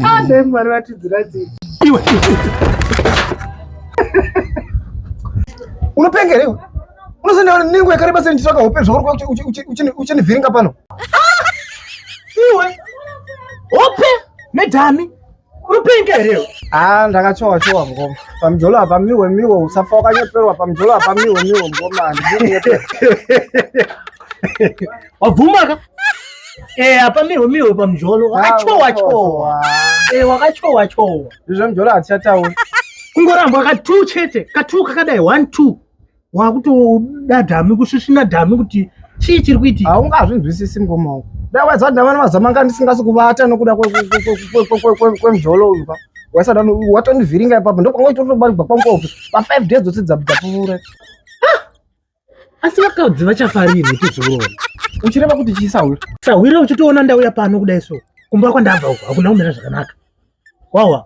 adai mwari vatidzira dzii iwe unopenga here iwe unosandaona nengo yakareba sei ndichitsvaka hope zvauri uchinivhiringa pano iwe hope medhami unopenga here ah ndakachowa chowa ngoma pamjolo apa miwe miwe usafa wakanyeperwa pamjolo apa miwe miwe ngoma wabvumaka Eh apa miwe miwe pamjolo wakachowa chowa eh wakachowa chowa izvo mjolo hatichataura kungoramba katu chete katu kakadai 1 2 wakutoda dhami kusvisvina dhami kuti chii chiri kuitika haungazvinzwisisi mukoma wangu dai waizati ndavana mazama anga ndisingasi kuvata nokuda kwemzvolo uyu pa waisada watonivhiringa ipapo ndokwanga uchitotobarigwa kwangopi pafive days dzose dzapfuura asi vakadzi vachafarirwe tizorora uchireva kuti chii sahwira sahwira uchitoona ndauya pano kudai so kumba kwandabva uko hakuna kumira zvakanaka wawa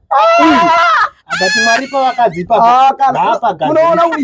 Uyu, abati mwari pavakadzi ipapo, Ah, kana- ngaapagadzire. unoona uri